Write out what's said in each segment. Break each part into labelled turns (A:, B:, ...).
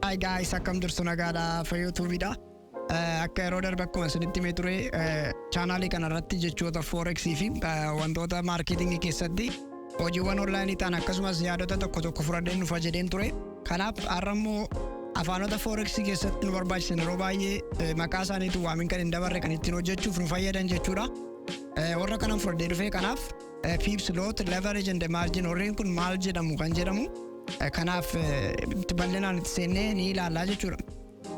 A: Hi guys, akkam jirtu nagaadha fayyoo tuubiidha. Eh, Akka yeroo darbe akkuma isinitti himee ture eh, chaanaalii kana irratti jechoota forex fi eh, wantoota maarkeetingii keessatti hojiiwwan onlaayinii ta'an akkasumas yaadota tokko tokko fudhadheen dhufa jedheen ture. Kanaaf har'a immoo afaanota forex keessatti nu barbaachisan yeroo baay'ee eh, maqaa isaaniitu waamin kan hin dabarre kan ittiin hojjechuuf nu fayyadan jechuudha. Eh, Warra kanan fudhadhee dhufe kanaaf Phipps lot leverage and margin warreen kun maal jedhamu kan jedhamu eh, kanaaf eh, itti bal'inaan itti seennee ni ilaalla jechuudha.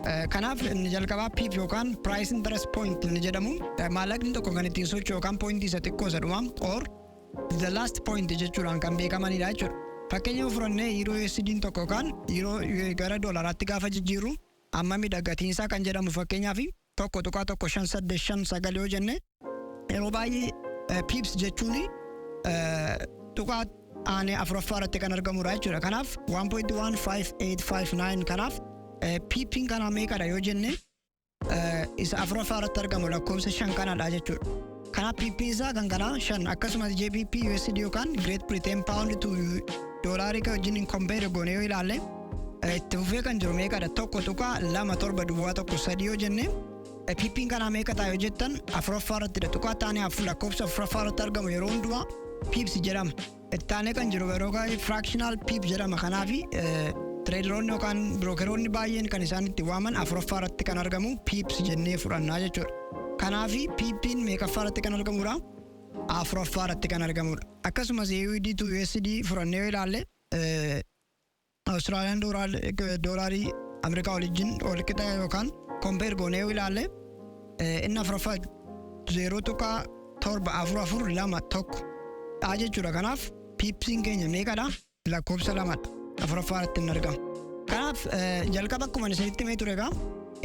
A: Eh, Kanaaf inni jalqabaa PIP yookaan price interest point inni jedhamu eh, maallaqni tokko kan ittiin socho'u yookaan point isa xiqqoo isa dhumaa or the last point jechuudhaan kan beekamanidha jechuudha. Fakkeenya yoo fudhanne yeroo USD tokko yookaan yeroo gara doolaraatti gaafa jijjiirru ammamidha gatiinsaa kan jedhamu fakkeenyaaf 1.1585 yoo jenne yeroo baay'ee piips jechuun tuqaa aanee afuraffaa irratti kan argamudha jechuudha. Kanaaf 1.15859 kanaaf piipiin kanaa meeqadha yoo jenne isa afuraffaa irratti argamu lakkoofsa shan kanadha jechuudha. Kanaaf PP isaa kan kanaa 5 akkasumas JPP USD yookaan Great Britain Pound to doolaarii kan wajjin compare goone yoo ilaalle eh, itti fufee kan jiru meeqadha tokko tuqaa lama torba duwwaa tokko sadii yoo jenne eh, PPn kanaa meeqa ta'a yoo jettan afuraffaa irrattidha tuqaa taanee afur lakkoofsa afuraffaa irratti argamu yeroo hundumaa piipsi jedhama. Itti aanee kan jiru yeroo baay'ee fractional pip jedhama. Kanaaf tireediroonni yookaan birookeroonni baay'een kan isaan itti waaman afuraffaa irratti kan argamu pips jennee fudhannaa jechuudha. Kanaaf piippiin meeqaffaa irratti kan argamudha? Afuraffaa irratti kan argamudha. Akkasumas UED to USD furannee yoo ilaalle Australian dollar doolarii Amerikaa walijjin walqixa yookaan compare goonee yoo ilaalle eh, inni afuraffaa 0.7442 dha jechuudha. Kanaaf piipsiin keenya meeqadha? Lakkoofsa lamadha. Afuraffaa irratti hin argamu. Kanaaf eh, jalqaba akkuma isinitti himee ture egaa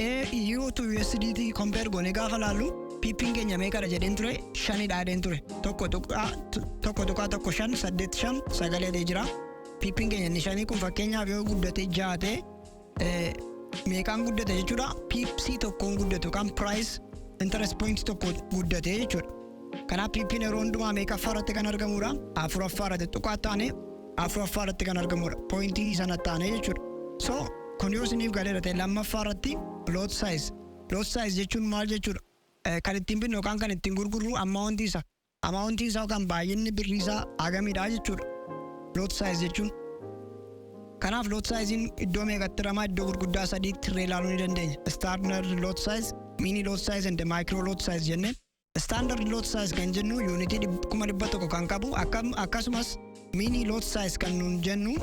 A: AU to USDT compare goonee gaafa laallu piippiin keenya meeqadha jedheen ture shanidha jedheen ture. Tokko tuqaa tokko tuqaa tokko shan saddeet shan sagalee jira. piippiin keenya inni shanii kun fakkeenyaaf yoo guddate ja'a ta'e eh, meeqaan guddate jechuudha piipsii tokkoon guddatu kan piraayis interest point tokko guddate jechuudha. Kanaaf piippiin yeroo hundumaa meeqaffaa irratti kan argamudha afuraffaa irratti tuqaa taane afuraffaa irratti kan argamudha poointii sana taane jechuudha. So kun yoo isiniif galeera ta'e lammaffaa irratti lot size lot size jechuun maal jechuudha Eh, kan ittiin binnu yookaan kan ittiin gurgurru ammaawwantii isa Amount isaa yookaan baay'inni birrii isaa hagamidha jechuudha. Lot size jechuun. Kanaaf lot size'n iddoo meeqatti hiramaa iddoo gurguddaa sadiitti hirree ilaaluu ni dandeenya. Standard lot size, mini lot size and micro lot size jennee. Standard lot size kan jennu unit 100,000 kan qabu akkasumas Miinii loot saayis kan nuun jennu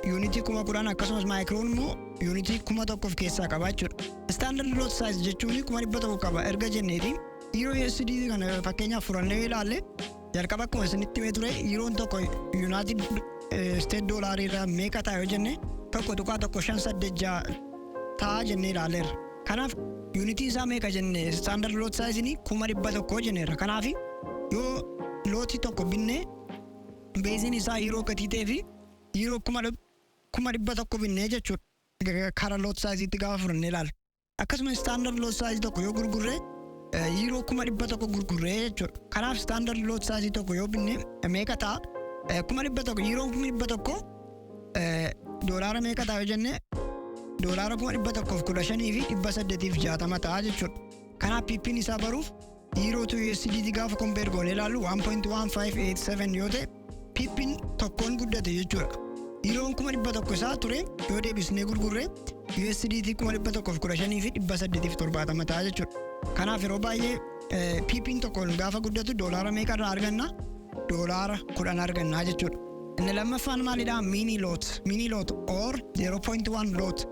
A: yuunitii kuma kudhan akkasumas maayikiroon immoo yuunitii kuma tokko of keessaa qaba jechuudha. Istaandard loot saayis jechuun kuma dhibba tokko qaba erga jenneeti yeroo USD kana fakkeenyaaf furannee yoo ilaalle jalqaba akkuma isinitti himee ture yeroon tokko yuunaayitid isteet doolaarii irraa meeqa ta'a yoo jenne tokko tuqaa tokko shan saddeet ja'a ta'a jennee ilaalleerra. Kanaaf yuunitii isaa meeqa jenne standard lot size ni 100,000 jenneerra. Kanaaf yoo lootii tokko binne beeziin isaa yeroo gatii ta'ee fi yeroo 100,000 binne jechuudha kara lot size itti gaafa fudhannee ilaalle. Akkasuma standard lot size tokko yoo gurgurre yeroo 100,000 gurgurre jechuudha. Kanaaf standard lot size tokko yoo binne meeqa ta'a? 100,000 yeroo 100,000 Eh, Doolaara meeqa ta'a yoo jenne doolaara kuma dhibba tokkoof kudha shanii fi dhibba saddeetiif jaatama ta'a jechuudha. Kanaaf piippiin isaa baruuf yiiroo tu USDT gaafa kompeer goonee ilaallu 1.1587 yoo ta'e piippiin tokkoon guddate jechuudha. Yiiroon kuma dhibba tokko isaa ture yoo deebisnee gurgurre USDT kuma dhibba tokkoof kudha shanii fi dhibba saddeetiif torbaatama ta'a jechuudha. Kanaaf yeroo baay'ee eh, piippiin tokkoon gaafa guddatu doolaara meeqa irraa arganna? Doolaara kudhan argannaa jechuudha. Inni lammaffaan maalidha? Mini lot, mini lot or 0.1 lot.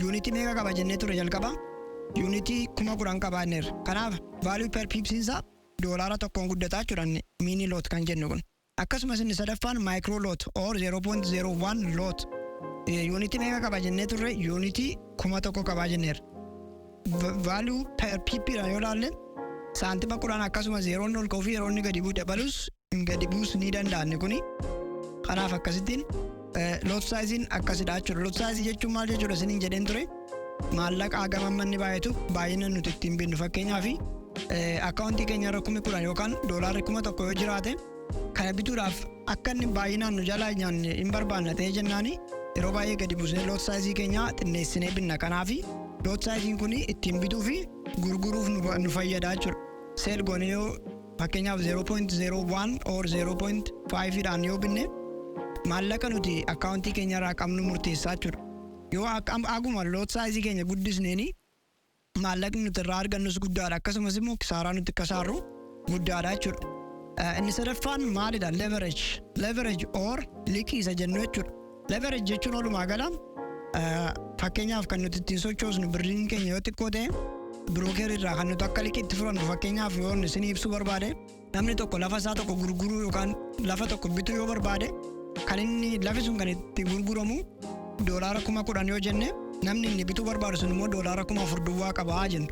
A: Yuunitii meeqa qaba jennee ture jalqaba? Yuunitii kuma kudhan qaba jenneerra. Kanaaf value per pips isaa doolaara tokkoon guddataa jechuudha inni mini lot kan jennu kun. Akkasumas inni sadaffaan micro lot or 0.01 lot. Yuunitii meeqa qaba jennee turre? Yuunitii kuma tokko qabaa jenneerra. Value per pip dha yoo ilaalle saantima kudhan akkasuma zeeroon ol ka'uu fi yeroo inni gadi bu'u dabalus gadi buus ni danda'a inni kuni. Kanaaf akkasittiin lot saayiziin akkasidha jechuudha. Lot saayizii jechuun maal jechuudha isiniin jedheen ture. Maallaqa hagam amma inni baay'atu baay'ina nuti ittiin binnu fakkeenyaaf akkaawuntii keenya irra kumi kudhan yookaan doolaarri kuma tokko yoo jiraate kana bituudhaaf akka inni baay'inaan nu jalaa nyaanne hin barbaanna ta'ee jennaani yeroo baay'ee gadi buusnee lot saayizii keenya xinneessinee binna kanaafi lot saayiziin kun ittiin bituu fi gurguruuf nu fayyada jechuudha. Seel goonee yoo Fakkeenyaaf 0.01 or 0.5 dhaan yoo binne maallaqa nuti akkaawuntii keenya irraa qabnu murteessaa jechuudha. Yoo haguma loot saayizii keenya guddisneeni maallaqni nuti irraa argannus guddaadha akkasumas immoo kisaaraa nuti kasaarru guddaadha jechuudha. Inni sadaffaan maalidha? Leverage. Leverage or liqii isa jennu jechuudha. Leverage jechuun walumaa gala fakkeenyaaf kan nuti ittiin sochoosnu birriin keenya yoo xiqqoo ta'e birookeer irraa kan nuti akka liqii itti fudhannu fakkeenyaaf yoo isin ibsuu barbaade namni tokko lafa isaa tokko gurguruu yookaan lafa tokko bituu yoo barbaade kan inni lafi sun kan itti gurguramu doolaara kuma kudhan yoo jenne namni inni bituu barbaadu sun immoo doolaara kuma afur duwwaa qabaa jenna.